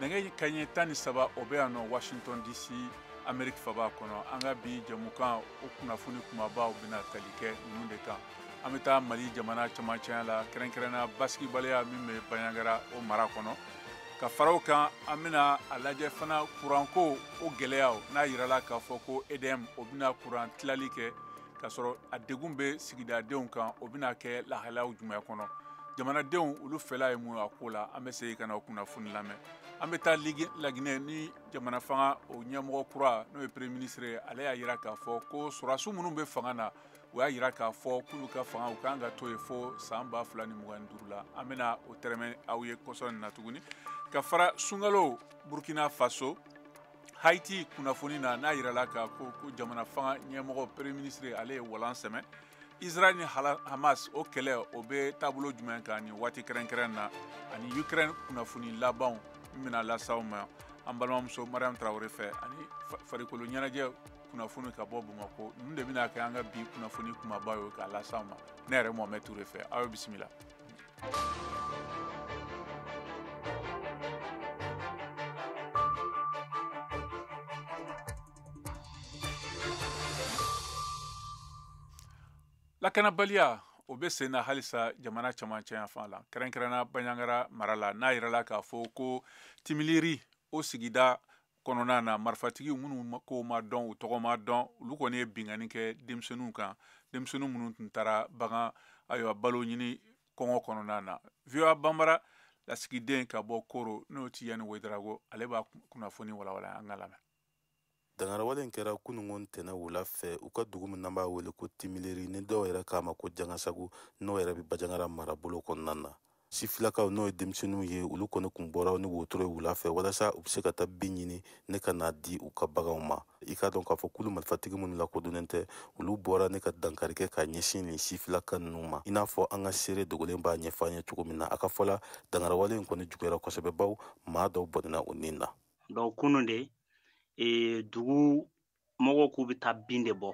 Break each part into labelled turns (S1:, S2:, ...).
S1: nɛgɛ kaɲɛ tan ni saba o bɛ yan nɔ washington dc ameriki faba kɔnɔ an ka bi jɛmukan o kunnafoni kumabaw bɛna tali kɛ ninnu de kan an bɛ taa mali jamana camancɛya la kɛrɛnkɛrɛnna basigibaliya min bɛ bandiagara o mara kɔnɔ ka fara o kan an bɛna a lajɛ fana kuranko o gɛlɛyaw n'a yirala k'a fɔ ko edm o bɛna kuran tilali kɛ k'a sɔrɔ a degun bɛ sigidadenw kan o bɛna kɛ lahalayaw jumɛn kɔnɔ jamanadenw olu fɛla ye mun ye a ko la an bɛ segin ka na o kunnafoni lamɛn an bɛ taa laginɛ ni jamana fanga o ɲɛmɔgɔ kura n'o ye premier ministre ye ale y'a jira k'a fɔ ko sɔrɔdasiw minnu bɛ fanga na o y'a jira k'a fɔ k'olu ka fanga u kan ka to yen fo san ba fila ni mugan ni duuru la an bɛna o tɛrɛmɛ aw ye kɔsɔn nin na tuguni ka fara sunkalo burkina faso haiti kunnafoni na n'a yirala k'a fɔ ko jamana fanga ɲɛmɔgɔ premier ministre ale ye walan sɛmɛ israel ni hamas o kɛlɛ o bɛ taabolo jumɛn kan nin waati kɛrɛnkɛrɛn na ani ukraine kunnafoni labanw min bɛna lase aw ma an balimamuso mariam tarawele fɛ ani farikolo ɲɛnajɛ kunnafoni ka bɔ bamakɔ ninnu de bɛna kɛ an ka bi kunnafoni kumaba ye k'a lase aw ma ne yɛrɛ mohamed ture fɛ aw ye bisimila lakanabaliya o bɛ sen na halisa jamana camancɛ yanfan la kɛrɛnkɛrɛnna bandiagara mara la n'a yirala k'a fɔ ko timiliri o sigida kɔnɔna na marifatigi minnu ko ma dɔn u tɔgɔ ma dɔn olu kɔni ye binkanni kɛ denmisɛnninw kan denmisɛnnin minnu tun taara bagan ayiwa balo ɲini kɔngɔ kɔnɔna na voa banbara lasigiden ka bɔ koro n'o tijani wedarago ale b'a kunnafoni walawala an k'a lamɛn
S2: dangarawale in kɛra kunungo ntɛnɛn wula fɛ u ka dugu min n'an b'a wele ko timileri ni dɔw yɛrɛ k'a ma ko jangasagu n'o yɛrɛ bɛ bandiagara marabolo kɔnɔna na sifilakaw n'o ye denmisɛnninw ye olu kɔni kun bɔra ni wotoro ye wula fɛ walasa u bɛ se ka taa bin ɲini ne ka n'a di u ka baganw ma i k'a dɔn k'a fɔ kulu marifatigi minnu lakodɔnnen tɛ olu bɔra ne ka dankari kɛ ka ɲɛsin nin sifilaka ninnu ma i n'a fɔ an ka seere dogolen b'a ɲɛfɔ an ye cogo min na a ka fɔ la dangarawale in kɔni juguyara kosɛbɛ bawo maa dɔw bɔnɛna u nin na donc kunu
S3: de e, dugu mɔgɔw k'u bɛ taa bin de bɔ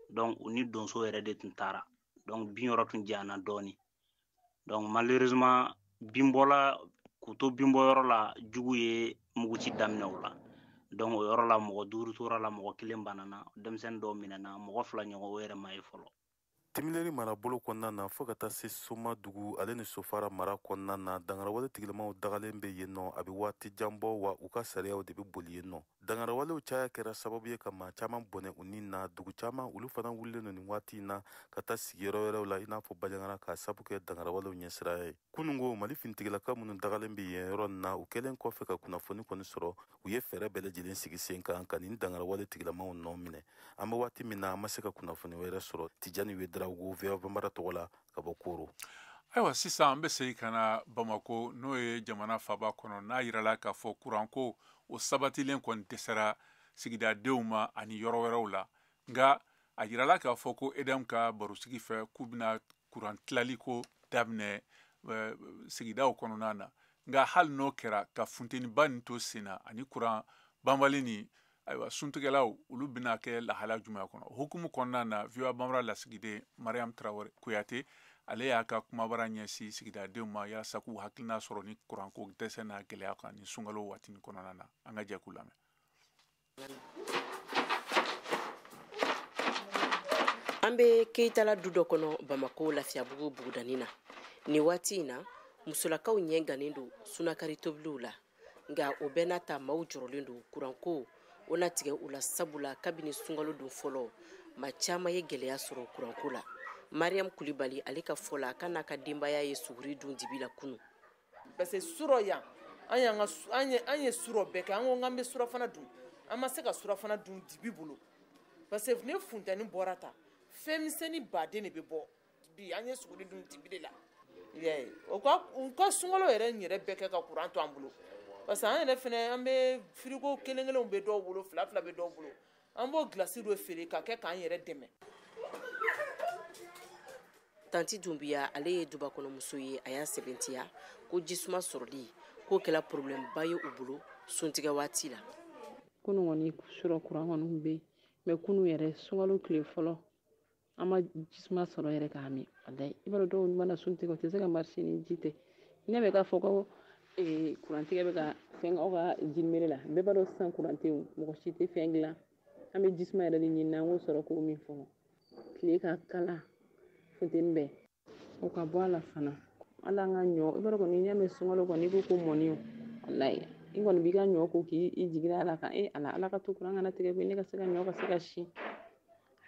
S3: donc u ni donso yɛrɛ de tun taara donc bin yɔrɔ tun janyana dɔɔni donc malheureusement binbɔ la k'u to binbɔ yɔrɔ la jugu ye muguci daminɛ u la donc o yɔrɔ la mɔgɔ duuru tora a la mɔgɔ kelen banana denmisɛnnin dɔw minɛna mɔgɔ fila ɲɔgɔn o yɛrɛ ma ye fɔlɔ
S2: timileri marabolo kɔnɔna na fo ka taa se soma dugu ale ni sofara mara kɔnɔna na dangarawale tigilamaw dagalen be yen nɔ a be waati jan bɔ wa u ka sariyaw de be boli yen nɔ dangarawalew caya kɛra sababu ye ka maa caaman bɔnɛ u ni na dugu caaman olu fana wulilen don nin waati na ka taa sigiyɔrɔ wɛrɛw la i n'a fɔ bajangara k'a sabu kɛ dangarawalew ɲɛsiraya ye kunungo mali finitigilaka minnu dagalen be yen yɔrɔ nin na u kɛlen kɔfɛ ka kunnafoni kɔni sɔrɔ u ye fɛɛrɛ bɛɛ lajɛlen sigi sen kan ka nin dangarawale tigilamaw nɔ minɛ an be waati min na an ma se ka kunnafoni wɛrɛ sɔrɔ tijani wedrawgo voa banbara tɔgɔ la ka bɔ koro ayiwa
S1: sisan an bɛ segin ka na bamako n'o ye jamana faba kɔnɔ n'a yirala k'a fɔ kuranko o sabatilen kɔni dɛsɛra sigidadenw ma ani yɔrɔ wɛrɛw la nka a yirala k'a fɔ ko edm ka barosigi fɛ k'u bɛna kuran tilaliko daminɛ eh, sigidaw kɔnɔna na nka hali n'o kɛra ka funteniba nin to sen na ani kuran banbali ni ayiwa suntigɛlaw olu bɛna kɛ lahala jumɛn kɔnɔ o hukumu kɔnɔna na voa banbara lasigiden mariam tarawele kuyate ale y'a ka kumabara ɲɛsin sigidadenw ma yalasa k'u hakilina sɔrɔ ni kuranko dɛsɛ n'a gɛlɛya kan ni sunkalo waati kɔnɔna na an ka jɛ k'u
S4: lamɛn an bɛ keyitala du dɔ kɔnɔ bamako lafiyabugu bugudanin na nin waati in na musolakaw ɲɛ gannen don sunakari tobiliw la nka o bɛɛ n'a ta maaw jɔrɔlen don kuranko o na tigɛ u la sabula kabini sunkalo don fɔlɔ maa caman ye gɛlɛya sɔrɔ kuranko la mariam kulibali ale ka fɔ la k'a n'a ka denbaya ye suguri dun dibi la kunu parce
S5: que surɔ yan an y'an ka an ye an ye surɔ bɛɛ kɛ an ko k'an bɛ surafana dun an ma se ka surafana dun dibi bolo parce que ni funteni bɔra ta fɛn misɛnnin baden de bɛ bɔ bi an ye suguri dun dibi de la i y'a ye o ka u ka sunkalo yɛrɛ in yɛrɛ bɛɛ kɛ ka kuran to an bolo parce que an yɛrɛ fɛnɛ an bɛ frigo kelen kelenw bɛ dɔw bolo fila fila bɛ dɔw bolo an b'o gilasi dɔ feere ka kɛ k'an yɛrɛ dɛmɛ
S4: tanti dunbiya ale ye dubakɔnɔmuso ye a y'a sɛbɛntiya ko jisuma sɔrɔli k'o kɛla problème ba ye u bolo suntigɛ waati la kunu
S6: kɔni surɔ kuran kɔni bɛ yen mais kunu yɛrɛ sunkalo tile fɔlɔ an ma jisuma sɔrɔ yɛrɛ k'a min walayi i b'a dɔn dɔw mana sun tigɛ u tɛ se ka marcher ni ji tɛ ne bɛ k'a fɔ ko kurantigɛ bɛ ka fɛn aw ka jimere la bɛɛ b'a dɔn sisan kuran tɛ mɔgɔ si tɛ fɛn dilan an bɛ jisuma yɛrɛ de ɲini an k'o sɔrɔ k'o min fɔlɔ tile ka kalan funteni bɛɛ o ka bɔ a la fana ala an ka ɲɔ i b'a dɔn kɔni n'i y'a mɛn sunkalo kɔni i ko ko mɔni o walayi i kɔni b'i ka ɲɔ ko k'i i jigi ala kan e ala ala ka to kuran kana tigɛ koyi ne ka se ka ɲɔ ka se ka si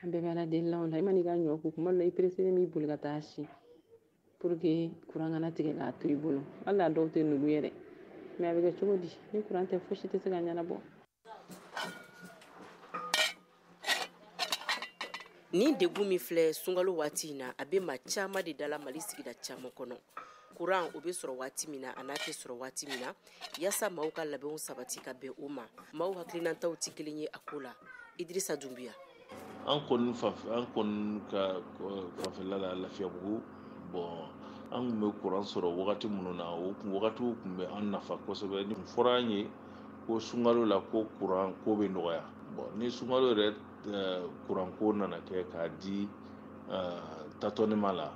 S6: an bɛɛ bɛ ala deli la o la i man'i ka ɲɔ ko kuma dɔ la i pereselen b'i boli ka taa si pour que kuran kana tigɛ k'a to i bolo hali a dɔw tɛ nugu yɛrɛ mais a bɛ kɛ cogo di ni kuran tɛ fosi tɛ se ka ɲɛnabɔ
S4: Ni degun min filɛ sunkalo waati in na a bɛ maa caman de da la mali sigida caman kɔnɔ kuran o bɛ sɔrɔ waati min na an'a tɛ sɔrɔ waati min na yaasa maaw ka labɛnw sabati ka bɛn o ma maaw hakilinataw tɛ kelen ye a ko la idrisa dunbiya
S7: an kɔni ka fanfɛla la lafiyabugu bɔn an kun bɛ kuran sɔrɔ wagati minnu na o wagatiw kun bɛ an nafa kosɛbɛ nin fɔra an ye ko sunkalo la ko kuran ko bɛ nɔgɔya bɔn ni sunkalo yɛrɛ kuran ko nana kɛ k'a di tatɔnima la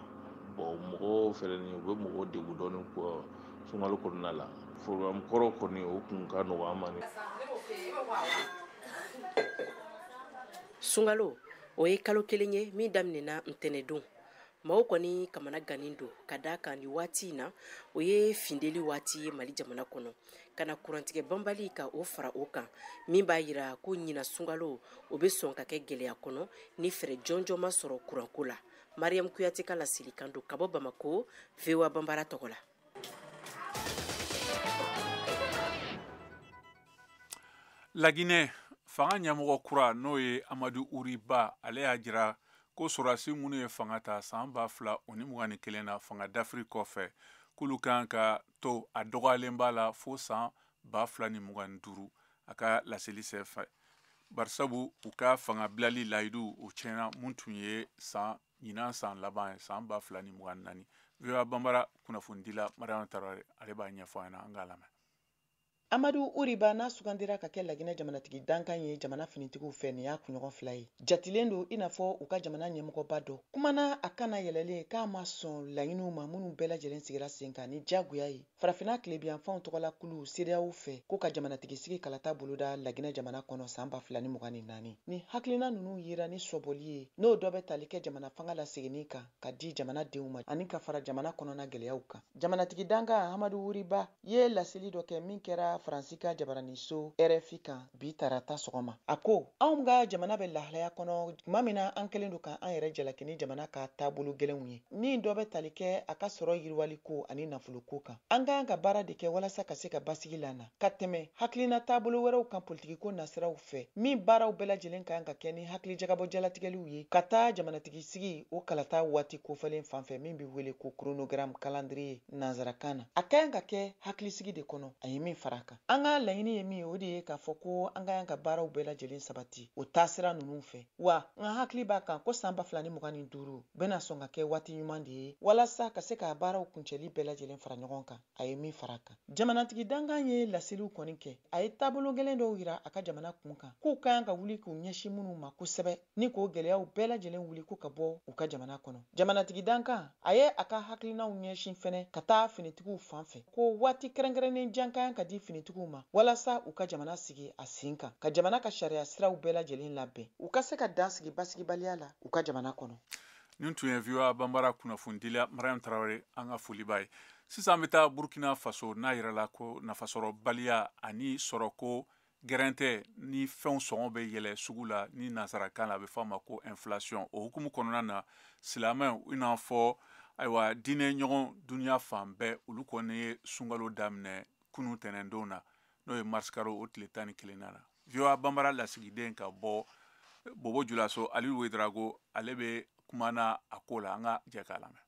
S7: bɔn mɔgɔw fɛnɛ ni u bɛ mɔgɔw degun dɔɔnin ko sunkalo kɔnɔna la programme kɔrɔ kɔni o kun ka nɔgɔ an ma
S4: sunkalo o ye kalo kelen ye min daminɛna ntɛnɛdon maaw kɔni kamanagannen don ka da kan ni waati in na o ye funteni waati ye mali jamana kɔnɔ ka na kurantigɛ banbali ka o fara o kan min b'a yira ko ɲinan sunkalo o bɛ sɔn ka kɛ gɛlɛya kɔnɔ ni fɛɛrɛ jɔnjɔn ma sɔrɔ kuranko la mariyamu kuyate ka laselikan don ka bɔ bamako voa banbara tɔgɔ la
S1: laginɛ fanga ɲɛmɔgɔ kura n'o ye amadu uri ba ale y'a jira ko sɔrɔdasi minnu ye fanga ta san ba fila o ni mugan ni kelen na fanga dafiri kɔfɛ k'olu kan ka to a dɔgɔyalenba la fo san ba fila ni mugan ni duuru a ka laseli senfɛ barisabu u ka fanga bilali layidu o tiɲɛna mun tun ye san ɲinan san laban ye san ba fila ni mugan ni naani voa banbara kunnafonidila mariama tarawele ale b'a ɲɛfɔ an ɲɛna an k'a lamɛn amadu
S8: uri ba n'a sugandira ka kɛ laginɛ jamanatigi dankan ye jamana finitigiw fɛ nin y'a kunɲɔgɔn fila ye jatilen don i n'a fɔ u ka jamana ɲɛmɔgɔba dɔ kumana a kan na yɛlɛlen k'a ma sɔn laɲiniw ma minnu bɛɛ lajɛlen sigira sen kan ni jagoya ye Farafinna tilebinyanfanw tɔgɔla kulu CEDEAO fɛ ko ka jamanatigisigi kalata boloda Laginɛ jamana kɔnɔ san ba fila ni mugan ni naani. Nin hakilina ninnu yira ni sɔbɔli ye n'o dɔ bɛ tali kɛ jamana fanga laseginni kan ka di jamanadenw ma ani ka fara jamana kɔnɔna gɛlɛyaw kan. Jamanatigi dankan Amadu Wuri Ba ye laseli dɔ kɛ min kɛra Faransi ka jabaraninso RFI kan. bi tarata sɔgɔma a ko anw ka jamana bɛ lahalaya kɔnɔ tuma min na an kɛlen don ka an yɛrɛ jalaki ni jamana ka taabolo gɛlɛnw ye ni dɔ bɛ tali kɛ a ka sɔrɔ yiriwali ko ani nafolo ko kan an ka kan ka baara de kɛ walasa ka se ka basigi lana ka tɛmɛ hakilina taabolo wɛrɛw kan politikiko nasiraw fɛ min baaraw bɛɛ lajɛlen ka kan ka kɛ ni hakili jagabɔ jalatigɛliw ye ka taa jamanatigi sigi o kalata waati kofɔlen fanfɛ min bɛ wele ko chronogramme calendrier nansarakan na a ka kan ka kɛ hakilisigi de kɔnɔ a ye min fara a kan An ka laɲini ye min ye, o de ye k'a fɔ ko an ka kan ka baaraw bɛɛ lajɛlen sabati o taasira ninnu fɛ. Wa, n ka hakili b'a kan ko san ba fila ni mugan ni duuru bɛna sɔn ka kɛ waati ɲuman de ye walasa ka se ka baaraw kuncɛli bɛɛ lajɛlen fara ɲɔgɔn kan, a ye min fara a kan. Jamanatigi dankan ye laseliw kɔni kɛ, a ye taabolo gɛlɛn dɔw yira a ka jamana kun kan, k'u ka kan ka wuli k'u ɲɛsin minnu ma kosɛbɛ. ni k'o gɛlɛyaw bɛɛ lajɛlen wuli ko ka bɔ u ka jamana kɔnɔ. Jamanatigi dankan, a ye a ka hakilinaw ɲɛsin fɛnɛ ka taa finitigiw fan fɛ, ko waati kɛrɛnkɛrɛnnen jan ka kan ka di finitigiw ma walasa u ka jamana sigi a sen kan, ka jamana ka sariya siraw bɛɛ lajɛlen labɛn, u ka se ka dan sigi basigibaliya la u ka jamana kɔnɔ. Nin tun
S1: ye VOA Banbara kunnafonidila Mariam Tarawele an ka foli b'a ye. Sisan an bɛ taa Burkina Faso n'a yirala ko nafasɔrɔbaliya ani sɔrɔko Gɛrɛntɛ ni fɛnw sɔngɔ bɛ yɛlɛ sugu la ni nansarakan na a bɛ f'a ma ko inflation o hukumu kɔnɔna na silamɛw i n'a fɔ ayiwa diinɛɲɔgɔn duniya fan bɛɛ olu kɔni ye sunkalo daminɛ kunun tɛnɛndon na n'o ye marisikaro o tile tan ni kelen na VOA Banbara lasigiden ka bɔ bobo julaso alidu wedrago ale bɛ kuma na a ko la an ka jɛ k'a lamɛn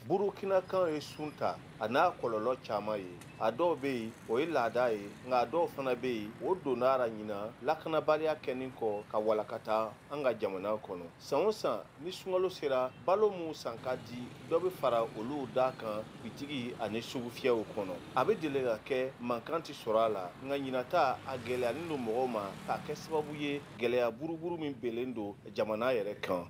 S9: burukinakaw ye sun ta a n'a kɔlɔlɔ caman ye a dɔw bɛ yen o ye laada ye nka a dɔw fana bɛ yen o donn'a ra ɲinan lakanabaliya kɛnin kɔ ka walakata an ka jamana kɔnɔ san o san ni sunkalo sera balo minw san ka di dɔ bɛ fara olu da kan bitigi ani sugufiyɛw kɔnɔ a bɛ deli ka kɛ mankan tɛ sɔrɔ a la nka ɲinan ta a gɛlɛyanin don mɔgɔw ma k'a kɛ sababu ye gɛlɛya buruburu min belen don jamana yɛrɛ kan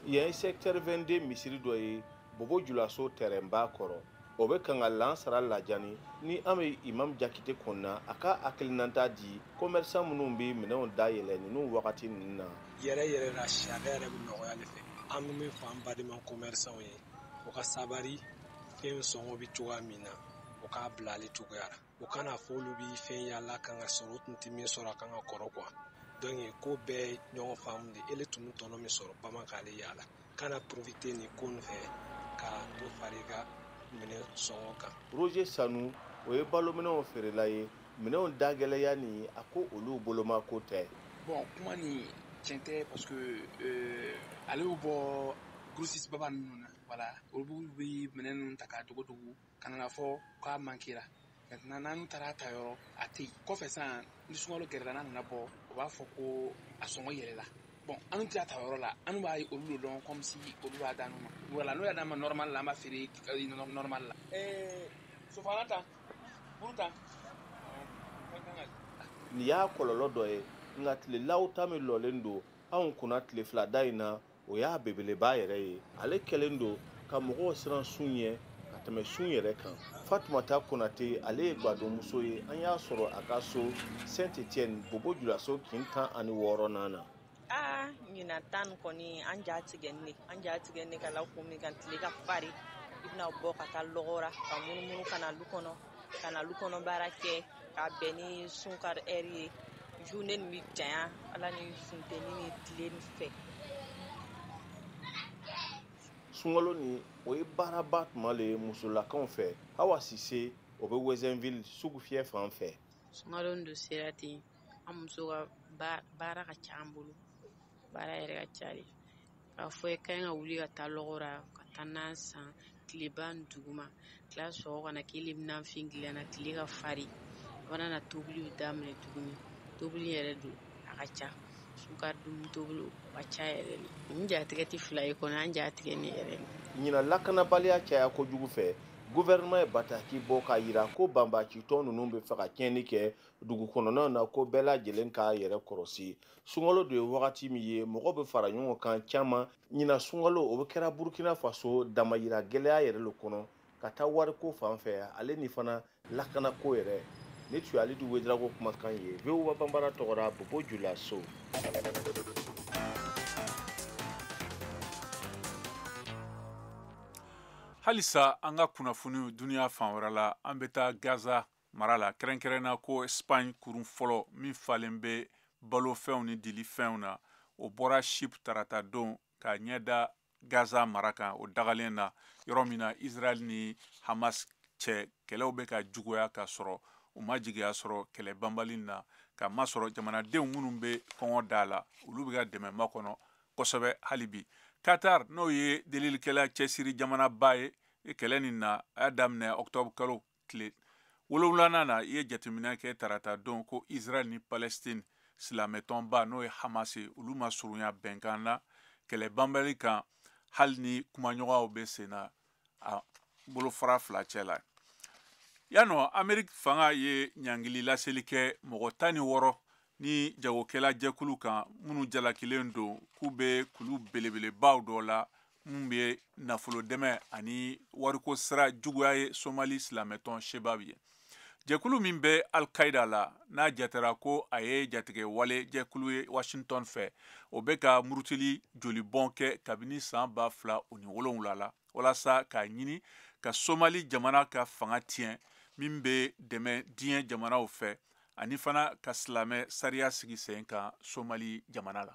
S9: yan ye secteur 22 misiri dɔ ye bobo julaso tɛrɛnba kɔrɔ o bɛ kan ka lansara lajani ni an bɛ imam jakite kɔnɔna a ka hakilinata di commerçant minnu bɛ minɛnw dayɛlɛ ninnu wagati ninnu na yɛrɛ yɛrɛ la sariya
S10: yɛrɛ bɛ nɔgɔya de fɛ an bɛ min fɔ an badenma commerçant ye u ka sabari fɛn sɔngɔ bɛ cogoya min na o k'a bila ale cogoya la o kana fɔ olu bɛ fɛn yala kan ka sɔrɔ u tun tɛ min sɔrɔ a kan ka kɔrɔ quoi donc ko bɛɛ ɲɔgɔn faamu de ele tun tɔnɔ min sɔrɔ bama k'ale yala kana profiter nin ko nin fɛ ka dɔ far'i ka minɛn sɔngɔ kan roger
S9: sanu o ye balominɛnw feerela ye minɛnw dagɛlɛya nin a ko olu boloma ko tɛ bon kuma nin
S11: tiɲɛ tɛ parce que euh, ale y'u bɔ grossiste baba ninnu na voilà olu bɛ minɛn ninnu ta k'a dogo dogo ka na fɔ k'a mankera maintenant n'an taara ta yɔrɔ a tɛ yen kɔfɛ sisan ni sunkalo gɛrɛla n'a nana bɔ u b'a fɔ ko a sɔngɔ yɛlɛla bon an tɛ ta yɔrɔ la an b'a ye olu de dɔn comme si olu b'a d'an ma voilà n'o y'a d'an ma normal la an b'a feere normal la ɛɛ sofana ta buru
S9: ta nin y'a kɔlɔlɔ dɔ ye nka tilelaw ta min lɔlen don anw kunna tile fila da in na o y'a belebeleba yɛrɛ ye ale kɛlen don ka mɔgɔw siran sun ɲɛ ka tɛmɛ sun yɛrɛ kan fatumata konate ale ye gwadonmuso ye an y'a sɔrɔ a ka so saint etienne bobo julaso kin tan ani wɔɔrɔnan na aa
S12: ɲina tan kɔni an ja tigɛnin ne an ja tigɛnin ne k'a la kun min kan tile ka fari i bɛna bɔ ka taa lɔgɔra ka munumunu ka na lu kɔnɔ ka na lu kɔnɔ baara kɛ ka bɛn ni sunkari heure ye journée nin bɛ janya an la ni funteni ni tile nin fɛ
S9: sunkalo nin o ye baaraba tuma le ye musolakaw fɛ awa sise o bɛ ouezzinville sugu fiyɛ fan fɛ sunkalo nin don
S6: sera ten an muso ka baara ka ca an bolo baara yɛrɛ ka ca de a fɔ ye kan ka wuli ka taa lɔgɔra ka taa nan san tileba dugu ma tila sɔrɔ ka na k'i le bɛfin dilanna tile ka farin o na tobili daminɛ tuguni tobili yɛrɛ don a ka ca sunkari dun tobili ka ca yɛrɛ n jatigɛ tɛ fila ye kɔnɔ an jatigɛ ne yɛrɛ ɲina
S9: lakanabaliya caya kojugu fɛ gouvernement ye bataki bɔ k'a yira ko banbaacitɔn ninnu bɛ fɛ ka tiɲɛni kɛ dugu kɔnɔnaw na ko bɛɛ lajɛlen k'a yɛrɛ kɔrɔsi sunkalo de ye wagati min ye mɔgɔ bɛ fara ɲɔgɔn kan caman ɲina sunkalo o bɛ kɛra burkina faso damayira gɛlɛya yɛrɛ le kɔnɔ ka taa wariko fan fɛ ale ni fana lakanako yɛrɛ nin tun ye alidu wedraogo kumakan ye voa banbara tɔgɔra bobo julaso
S1: halisa an ka kunnafoniw duniya fan wɛrɛ la an bɛ taa gaza mara la kɛrɛnkɛrɛnna ko espagne kurun fɔlɔ min falen bɛ balofɛnw ni dilifɛnw na o bɔra chypre tarata don ka ɲɛda gaza mara kan o dagalen na yɔrɔ min na israel ni hamas cɛ kɛlɛw bɛ ka juguya ka sɔrɔ u ma jigiya sɔrɔ kɛlɛ banbali na ka masɔrɔ jamanadenw minnu bɛ kɔngɔ da la olu bɛ ka dɛmɛ makɔnɔ kosɛbɛ hali bi qatar n'o ye delilikɛla cɛsiri jamanaba ye kɛlɛ nin na a y'a daminɛ octobre kalo tile wolonwulanan na i ye jateminɛ kɛ tarata don ko israel ni palestine silamɛtɔnba n'o ye hamas ye olu ma surunya bɛnkan na kɛlɛ banbali kan hali ni kumaɲɔgɔnyaw bɛ sen na a bolofara fila cɛ la yanɔ ameriki fanga ye ɲangili laseli kɛ mɔgɔ tan ni wɔɔrɔ ni jagokɛla jɛkulu kan minnu jalakilen don k'u bɛ kulu belebelebaw dɔ la min bɛ nafolo dɛmɛ ani wariko sira juguya ye somali silamɛtɔn shebab ye jɛkulu min bɛ alkaida la n'a jatera ko a ye jatigɛwale jɛkulu ye washington fɛ o bɛ ka murutili jolibɔn kɛ kabini san ba fila o ni wolonwula la walasa k'a ɲini ka somali jamana ka fanga tiɲɛ min bɛ dɛmɛ diɲɛ jamanaw fɛ ani fana ka silamɛ sariya sigi sen kan somali jamana la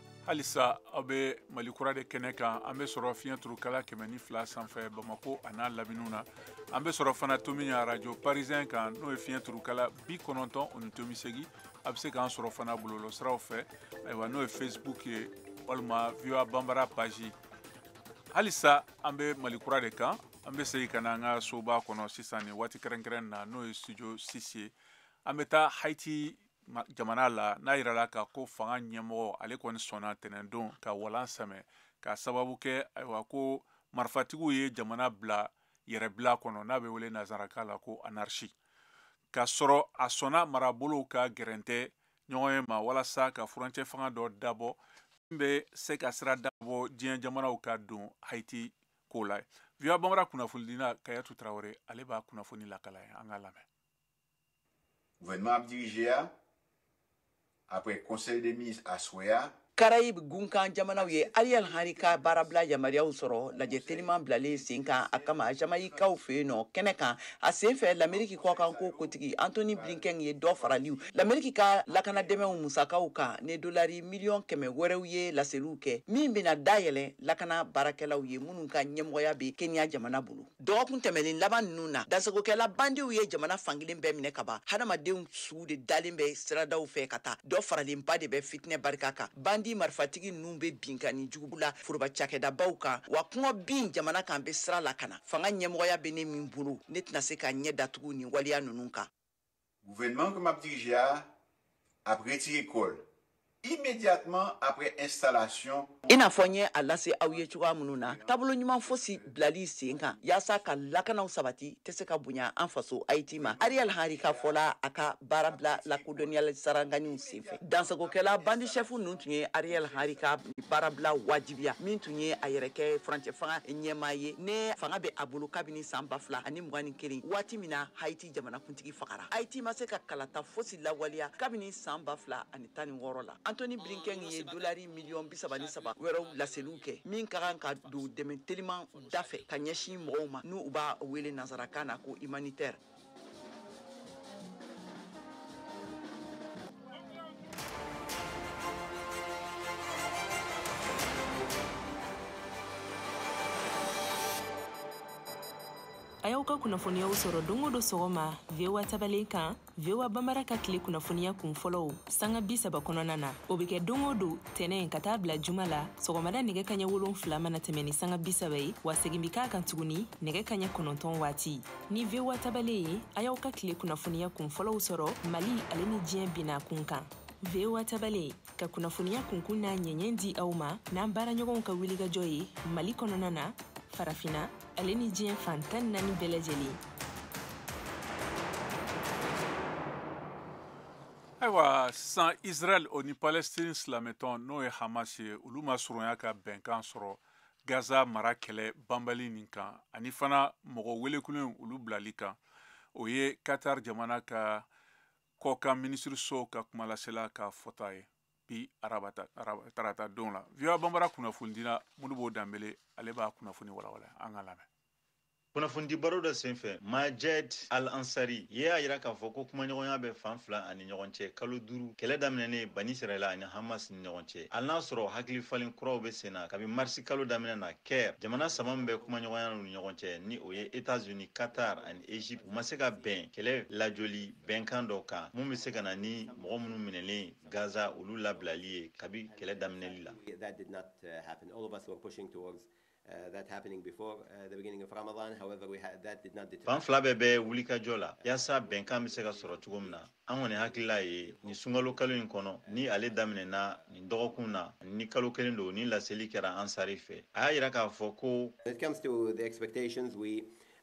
S1: halisa aw bɛ mali kura de kɛnɛ kan an bɛ sɔrɔ fiɲɛ turukala kɛmɛ ni fila sanfɛ bamako a n'a laminiw na an bɛ sɔrɔ fana tominian arajo parisɛn kan n'o ye fiɲɛ turukala bi kɔnɔntɔn o ni tomi segin a bɛ se k'an sɔrɔ fana bɔlɔlɔ siraw fɛ ayiwa n'o ye facebook ye walima voa bambara page halisa an bɛ mali kura de kan an bɛ segin ka na an ka soba kɔnɔ sisan nin waati kɛrɛnkɛrɛn na n'o ye studio six ye an bɛ taa haiti jamana la n'a yirala ka ko fanga ɲɛmɔgɔ ale kɔni sɔnna tɛnɛndon ka walan sɛmɛ ka sababu kɛ ayiwa ko marifatigiw ye jamana bila yɛrɛbila kɔnɔ n'a bɛ wele nazaraka la ko anarchie ka sɔrɔ a sɔnna marabolow ka gɛrɛntɛ ɲɔgɔnye ma walasa ka furancɛ fanga dɔ dabɔ min bɛ se ka sira dabɔ diɲɛ jamanaw ka don haiti ko la voa bambara kunnafonidina kayatu tarawele ale b'a kunnafoni lakala ye an ka lamɛn
S13: Gouvènman m ap dirije a, apre konsèy dè minis aswè a, Karayib
S8: gunkan jamanaw ye Ariel Henry ka baarabila yamaruyaw sɔrɔ lajɛ teliman bilalen sen kan a kama Jamayikaw fɛ yen nɔ kɛnɛ kan a sen fɛ Lameriki kɔkanko kotigi Anthony Blinken ye dɔ faraliw Lameriki ka lakanadɛmɛw musakaw kan ni dolari miliyɔn kɛmɛ wɛrɛw ye laseliw kɛ min bɛna dayɛlɛn lakana baarakɛlaw ye minnu ka ɲɛmɔgɔya bɛ Kenya jamana bolo. dɔgɔkun tɛmɛlen laban ninnu na dansagokɛla bandiw ye jamana fankelen bɛɛ minɛ ka ban hadamadenw suw de dalen bɛ siradaw fɛ ka taa dɔ faralenba de bɛ fitinɛ barika kan bandi marifatigi ninnu bɛ binkanni juguba la foroba cakɛdabaw kan wa kɔngɔ bin jamana kan bɛ sira la ka na fanga ɲɛmɔgɔya bɛ ne min bolo ne tɛna se ka ɲɛ datugu nin waleya ninnu kan Gouvènman
S13: ke m ap dirije a ap retire kò l imedyatman apre enstalasyon. I n'a fɔ n ye a
S8: lase aw ye cogoya minnu na, taabolo ɲuman fosi bilali sen kan yaasa ka lakanaw sabati tɛ se ka bonya an faso Ayiti ma. Ariel Henry ka fɔ la, a ka baarabila lakodɔnniyali saranganiw senfɛ, dansagokɛla bandi shɛfu ninnu tun ye Ariel Henry ka baarabila wajibiya, min tun ye a yɛrɛ kɛ furancɛfanga ɲɛmaa ye ni fanga bɛ a bolo kabini san ba fila ani mugan ni kelen, waati min na Haiti jamanakuntigi fagara ayiti ma se ka kalata fosi lawaleya kabini san ba fila ani tan ni wɔɔrɔ la anthony blinken ye dolari miliyɔn bisaba ni saba wɛrɛw laseliw kɛ min ka kan ka don dɛmɛ teliman da fɛ ka ɲɛsin mɔgɔw ma n'u b'a wele nansarakan na ko humanitaire
S14: a y'aw ka kunnafoniyaw sɔrɔ don o don sɔgɔma voa tabalen kan voa banbara ka tile kunnafoniya kun fɔlɔw sanga bi saba kɔnɔna na o be kɛ don o don tɛnɛn ka taa bila juma la sɔgɔmada nɛgɛ kaɲɛ wolon fila mana tɛmɛ ni sanga bi saba ye wa segin bi k'a kan tuguni nɛgɛ kaɲɛ kɔnɔntɔn waati ni voa tabalen ye a y'aw ka tile kunnafoniya kun fɔlɔw sɔrɔ mali ale ni diɲɛ bina kun kan voa tabalen ka kunnafoniya kunkun n'a ɲɛɲɛ di aw ma n'an baaraɲɔgɔnw ka wulikajɔ ye mali kɔnɔna na farafina ale
S1: ni diɲɛ fan tan ni naani bɛɛ lajɛlen ayiwa sisan israɛl o ni palestine silamɛtɔn n'o ye hamas ye olu ma surunya ka bɛnkan sɔrɔ gaza mara kɛlɛ banbali nin kan ani fana mɔgɔ welekulen olu bilali kan o ye qatar jamana ka kɔkan minisiriso ka kumalasela ka fɔta ye bi arabata araba tarata don la voa banbara kunnafonidila modibo danbele ale b'a kunnafoni walawala an ka lamɛn kunnafonidi
S15: baro dɔ senfɛ majed al ansari ye a yira k'a fɔ ko kumaɲɔgɔnya bɛ fan fila ani ɲɔgɔn cɛ kalo duru kɛlɛ daminɛnen bani israɛla ani hamas ni ɲɔgɔn cɛ hali n'a sɔrɔ hakili falen kuraw bɛ sen na kabi marisi kalo daminɛ na caire jamana saba min bɛ kumaɲɔgɔnya ni ɲɔgɔn cɛ ni o ye etats unis qatar ani egypte u ma se ka bɛn kɛlɛ lajoli bɛnkan dɔ kan mun bɛ se ka na ni mɔgɔ minnu minɛlen gaza olu labilali ye kabi kɛlɛ daminɛli
S16: la fan fila bɛɛ bɛ
S15: wulikajɔ la yaasa bɛnkan bɛ se ka sɔrɔ cogo min na an kɔni hakilila ye nin sunkalo kalo in kɔnɔ ni ale daminɛna nin dɔgɔkun na ni kalo kelen don nin laseli kɛra ansari fɛ a y'a yira k'a fɔ ko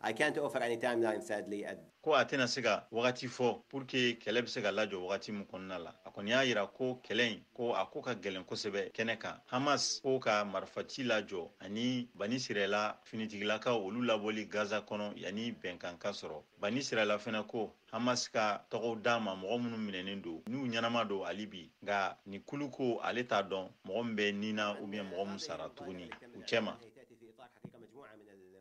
S16: I can't offer any timeline sadly at ko a tɛna se
S15: ka wagati fɔ pour que kɛlɛ bɛ se ka lajɔ wagati min kɔnɔna la a kɔni y'a yira ko kɛlɛ in ko a ko ka gɛlɛn kosɛbɛ kɛnɛ kan hamas ko ka marifaci lajɔ ani bani sirɛla finitigilakaw olu labɔli gaza kɔnɔ yanni bɛnkan ka sɔrɔ bani sirɛla fɛnɛ ko hamas ka tɔgɔw d'a ma mɔgɔ minnu minɛnen don n'u ɲɛnama don hali bi nka nin kulu ko ale t'a dɔn mɔgɔ min bɛ ni na ou bien mɔgɔ min sara tuguni u cɛma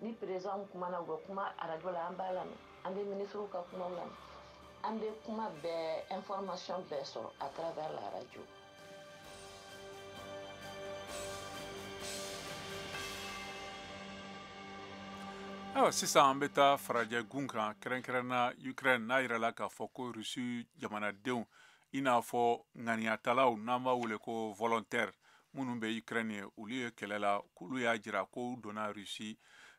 S17: ni perezidanw kumana u bɛ kuma arajo la an b'a lamɛn an bɛ minisiriw ka kumaw lamɛn an bɛ kuma bɛɛ information bɛɛ sɔrɔ à travers la radio
S1: ayiwa sisan an bɛ taa farajɛ gun kan kɛrɛnkɛrɛnna ukraine n'a yirala k'a fɔ ko rusi jamanadenw i n'a fɔ ŋaniyatalaw n'an b'a wele ko volontaires minnu bɛ ukraine ye olu ye kɛlɛ la k'olu y'a jira ko u donna russie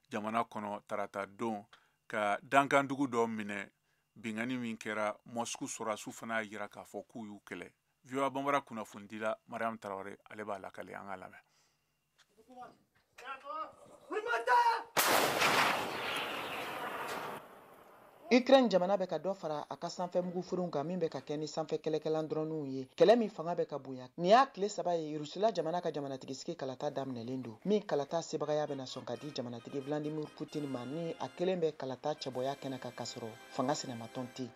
S1: jamana kɔnɔ tarata don ka dankandugu dɔ minɛ binkanni min kɛra mosku sɔrɔdasiw fana y'a jira k'a fɔ k'u y'u kɛlɛ voa banbara kunnafonidila mariam tarawele ale b'a lakale an ka lamɛn
S8: Ukraine jamana bɛ ka dɔ fara a ka sanfɛ mugufurenw kan min bɛ ka kɛ ni sanfɛ kɛlɛkɛlan dɔrɔniw ye kɛlɛ min fanga bɛ ka bonya nin y'a tile saba ye rusila jamana ka jamanatigi sigi kalata daminɛlen don min kalata sebagaya bɛna sɔn ka di jamanatigi vladimir putin ma ni a kelen bɛ kalata cɛbɔya kɛnɛ kan kasɔrɔ fanga sinamatɔn tɛ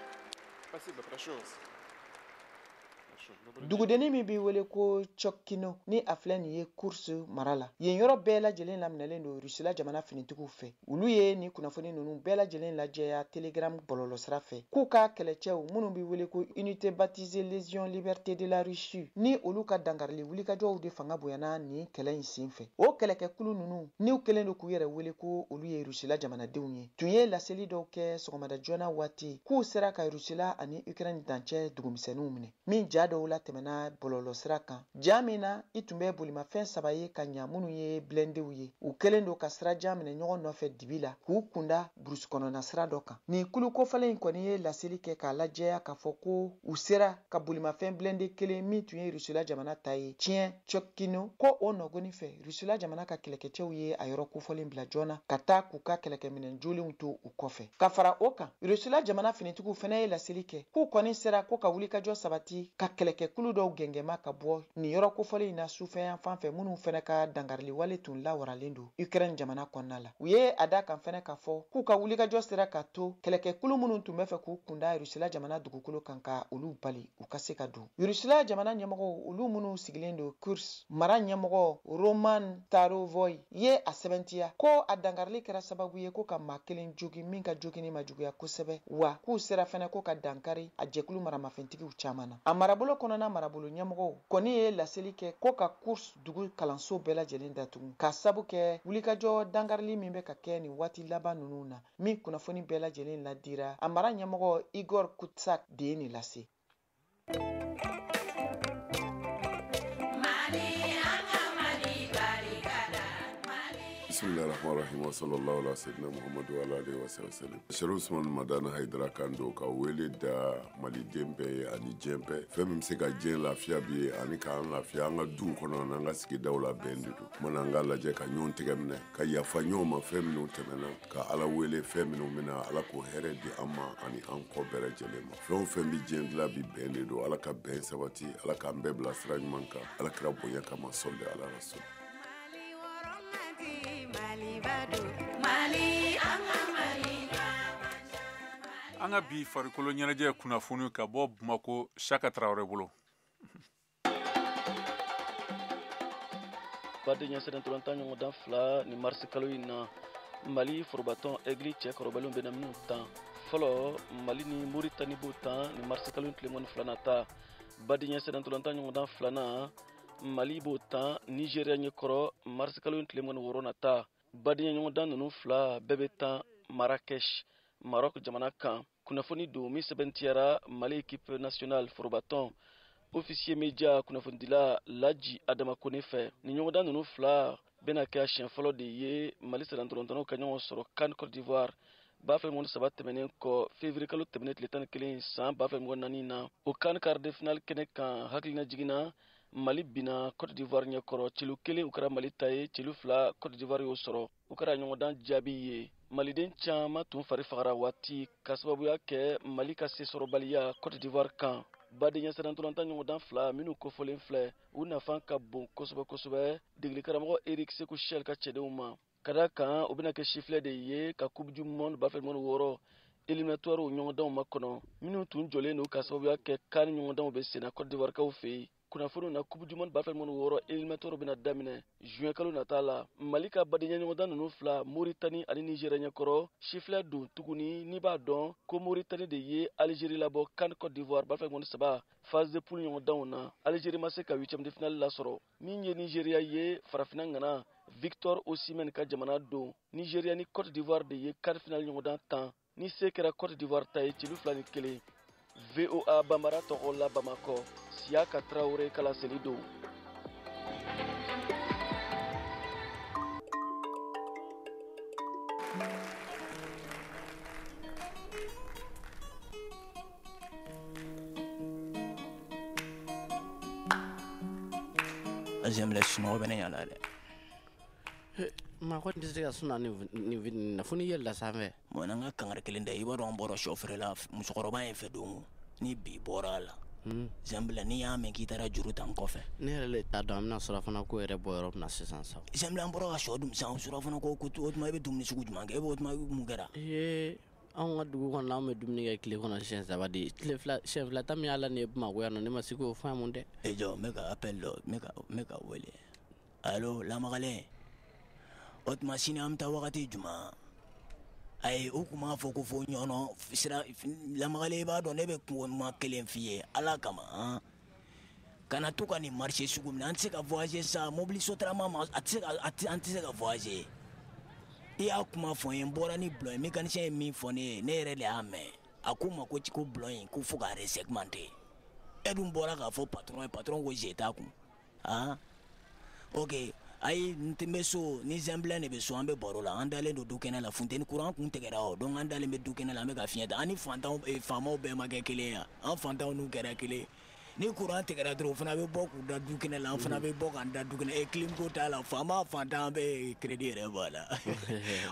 S8: Dugudennin min bɛ wele ko Tiotkino ni a filɛ nin ye Kursk mara la, yen yɔrɔ bɛɛ lajɛlen laminɛlen don Rusila jamana finitigiw fɛ. Olu ye nin kunnafoni ninnu bɛɛ lajɛlen lajɛya Telegram bɔlɔlɔsira fɛ, k'u ka kɛlɛcɛw minnu bɛ wele ko Unité baptisée Légion Liberté de la Russie ni olu ka dankarili wulikajɔw de fanga bonyana nin kɛlɛ in senfɛ. O kɛlɛkɛkulu ninnu, n'u kɛlen don k'u yɛrɛ wele ko olu ye Rusila jamanadenw ye, tun ye laseli dɔw kɛ sɔgɔmada joona waati k'u sera ka rusila ani ukraine dancɛ dugumisɛnninw minɛ min ja dɔw latɛmɛna bɔlɔlɔsira kan ja min na i tun bɛ bolimafɛn saba ye ka ɲa minnu ye blendew ye u kɛlen don ka sirajan minɛ ɲɔgɔn nɔfɛ dibi la k'u kunda burusi kɔnɔna sira dɔ kan nin kulu kofɔlen in kɔni ye laseli kɛ k'a lajɛya k'a fɔ ko u sera ka bolimafɛn blende kelen min tun ye rusila jamana ta ye tiɲɛ Tiotkino ko o nɔgɔni fɛ Rusila jamana ka kɛlɛkɛcɛw ye a yɔrɔ kofɔlen bila joona ka taa k'u ka kɛlɛkɛminɛn jolenw to u kɔfɛ. Ka fara o kan, Rusila jamana finitigiw fana ye laseli kɛ k'u kɔni sera ko ka wulikajɔ sabati ka kɛlɛkɛkulu dɔw gɛngɛnma ka bɔ nin yɔrɔ kofɔlen in na sufɛ yanfan fɛ minnu fana ka dankariliwale tun lawaralen don Ukraine jamana kɔnɔna la. U ye a d'a kan fana k'a fɔ k'u ka wulikajɔ sera k'a to kɛlɛkɛkulu minnu tun bɛ fɛ k'u kunda Rusila jamana dugukolo kan ka olu bali u ka se ka don. Rusila jamana ɲɛmɔgɔw olu minnu sigilen don Kursk mara ɲɛmɔgɔ Roman Starovoyt ye a sɛbɛntiya ko a dankarili kɛra sababu ye ko ka maa kelen jogi min ka jogini ma juguya kosɛbɛ wa k'u sera fɛnɛ ko ka dankari a jɛkulu maramafɛntigiw caman na. A marabolo kɔnɔna marabolo ɲɛmɔgɔw kɔni ye laseli kɛ ko ka Kursk dugu kalanso bɛɛ lajɛlen datugu k'a sabu kɛ wulikajɔ dankarili min bɛ ka kɛ nin waati laban ninnu na min kunnafoni bɛɛ lajɛlen ladira a mara ɲɛmɔgɔ Igor Kutsak de ye nin lase.
S18: bisimilahi rahamani rahimi wa salalahu ala seyidina muhamadu wa alihi wa salam serifu usman madani hayidara kan don ka wele da maliden bɛɛ ye ani diɲɛ bɛɛ fɛn min bɛ se ka diɲɛ lafiya bi ye ani k'an lafiya an ka duw kɔnɔ an'an ka sigidaw la bɛn de don o tuma na an k'a lajɛ ka ɲɔgɔn tɛgɛ minɛ ka yafa ɲɔgɔn ma fɛn minnu tɛmɛna ka ala wele fɛn minnu bɛ na ala k'o hɛrɛ di an ma ani an kɔ bɛɛ lajɛlen ma fɛn o fɛn bɛ diɲɛ dilan bi bɛn de don ala ka bɛn sabati ala k'an bɛɛ bila sira ɲuman kan ala kira bonya kama sɔli ala rasul
S1: an ka bi farikolo ɲɛnajɛ kunnafoni ka bɔ bamako siyaka tarawele bolo
S19: badenya sennantolatan ɲɔgɔndan fila nin marisi kalo in na mali forobatɔn egili cɛ kɔrɔbalenw bɛna minnu tan fɔlɔ mali ni moritani b'o tan nin marisi kalo in tile mugan ni fila nata badenya sennantolatan ɲɔgɔndan filanan mali b'o tan nizeriya ɲɛkɔrɔ marisi kalo in tile mugan ni wɔɔrɔ nata badenya ɲɔgɔndan ninnu fila bɛɛ bɛ tan marakɛsh marɔk jamana kan kunnafoni don min sɛmɛntiyara mali équipe nationale forobatɔn officier média kunnafonidila laji adama kone fɛ ni ɲɔgɔndan ninnu fila bɛna kɛ a siɲɛ fɔlɔ de ye mali sennantolatannaw ka ɲɔgɔn sɔrɔ can cote d'ivoire ba fila mugan ni saba tɛmɛnen kɔ fevrier kalo tɛmɛnen tile tan ni kelen san ba fila mugan ni naani na o can quart de finale kɛnɛ kan hakilinajigin na mali binna cote d'ivoire ɲɛkɔrɔ celu kelen o kɛra mali ta ye celu fila cote d'ivoire y'o sɔrɔ o kɛra ɲɔgɔndan jaabi ye maliden caman tun fari fagara waati ka sababuya kɛ mali ka sesɔrɔbaliya cote d'ivoire kan badenya sennantolatan ɲɔgɔndan fila minnu kofɔlen filɛ u nafan ka bon kosɛbɛ kosɛbɛ degelikaramɔgɔ eric sekou chelle ka cɛdenw ma ka da kan u bɛna kɛ sifilɛ de ye ka coupe du monde ba fila mugan ni wɔɔrɔ éliminatoires ɲɔgɔndanw makɔnɔ minnu tun jɔlen don ka sababuya kɛ can ɲɔgɔndanw bɛ senna cote d'ivoirekaw fɛ yen kunnafoniw na coupe du monde ba fila mugan ni wɔɔrɔ éliminatoire bɛna daminɛ juin kalo nata la mali ka badenya ɲɔgɔndan ninnu fila moritani ani nizeriya ɲɛkɔrɔ sifilɛ don tuguni n'i b'a dɔn ko moritani de ye alizeri labɔ can cote d'ivoire ba fila mugan ni saba phase de poule ɲɔgɔndanw na alizeri ma se ka huitième de finale lasɔrɔ min ye nizeriya ye farafina ŋana victor osimhen ka jamana don nizeriya ni cote d'ivoire de ye can finale ɲɔgɔndan tan ni se kɛra cote d'ivoire ta ye celu fila ni kelen voa banbara tɔgɔ la bamakɔ siyaka tarawele ka laseli don
S20: J'aime les chinois, ben, il y en a.
S21: Ma ko tɛ se ka sun nin f ye la sanfɛ mɔn n ka kangari
S20: kelen da i b'a dɔn bɔra shɔ feere la musokɔrɔba in fɛ don ni bi bɔra a la zan n'i y'a mɛn k'i taara juru ta n kɔfɛ ne yɛrɛ t'a dɔn an
S21: bɛna surafana ko yɛrɛ bɔ yɔrɔ min na sisan sa zan bɔra ka
S20: shɔ san surafana ko ko to i bɛ dumuni sugu jumɛn kɛ e b'o mun kɛra ee
S21: an ka dugu kɔnɔ an bɛ dumuni kɛ tile kɔnɔ siɲɛ saba de siɲɛ fila ta min y'a la nin ye bamakɔ yan ne ma se k'o faamu dɛ e jɔ ne ka appel
S20: dɔn ne ka wele Alo lamagalen o tuma sini an bɛ taa wagati jumɛn ayi u tun b'a fɔ ko fo ɲɔnɔ lamagalen i b'a dɔn ne bɛ kuma kelen f'i ye ala kama kana to ka nin marché sugu minɛ an tɛ se ka fɔse sa mobili sotarama ma a tɛ an tɛ se ka fɔse i y'a kuma fɔ n ye n bɔra ni bulon ye mécanicien ye min fɔ ne ye ne yɛrɛ de y'a mɛn a ko n ma ko ci ko bulon in ko fo ka resegmenter e dun bɔra k'a fɔ patron ye patron ko ze kun aa ok ayi n tɛ bɛ so ni zɛnbilɛn de bɛ so an bɛ baro la an dalen don du kɛnɛ la funteni kuran kun tigɛra o donc an dalen bɛ du kɛnɛ la an bɛ ka fiɲɛ ta an ni fantanw eh, faamaw bɛɛ ma kɛ kelen ye yan an fantanw n'u kɛra kelen ye ni kuran tigɛra dɔrɔn o fana bɛ bɔ k'u da du kɛnɛ la an fana bɛ bɔ k'an da du kɛnɛ e kilim ko t'a la faama fantan an bɛ crédit yɛrɛ b'a la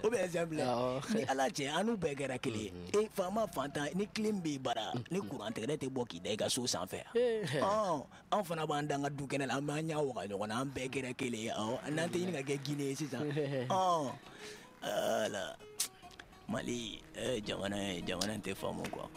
S20: o bɛ exemple Awɔ. ni ala cɛ an n'u bɛɛ kɛra kelen ye e faama fantan ni kilim b'i bara ni kuran tigɛra e tɛ bɔ k'i da i ka so sanfɛ yan Ee. Ɔn, an fana b'an da an ka du kɛnɛ la an b'an ɲa waga ɲɔgɔn na an bɛɛ kɛra kelen ye awɔ n'an tɛ ɲini ka kɛ gine ye sisan ɔn ala mali eh, jamana ye jamana in tɛ faamu quoi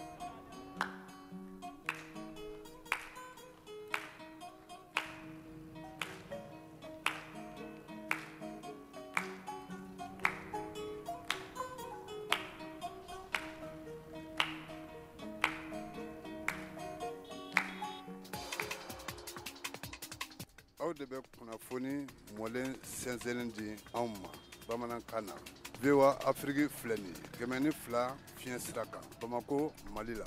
S22: aw de bɛ kunnafoni mɔlen sɛnsɛnnen di anw ma bamanankan na voa afiriki filɛ nin ye kɛmɛ ni fila fiɲɛ sira kan bamako mali la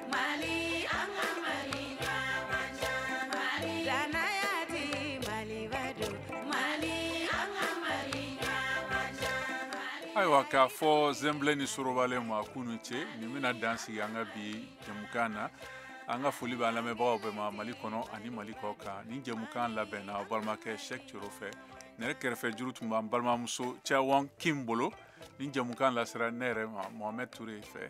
S1: ayiwa k'a fɔ zenblɛ ni sorobalen ma k'u ni ce nin bɛna dan sigi an ka bi jɛmukan na an ka foli b'an lamɛnbagaw bɛɛ ma mali kɔnɔ ani mali kɔ kan nin jɛmukan labɛnna balimakɛ sɛk coro fɛ ne yɛrɛ kɛrɛfɛ juru tun b'an balimamuso cawɔn kim bolo nin jɛmukan lasera ne yɛrɛ ma mohamɛd ture fɛ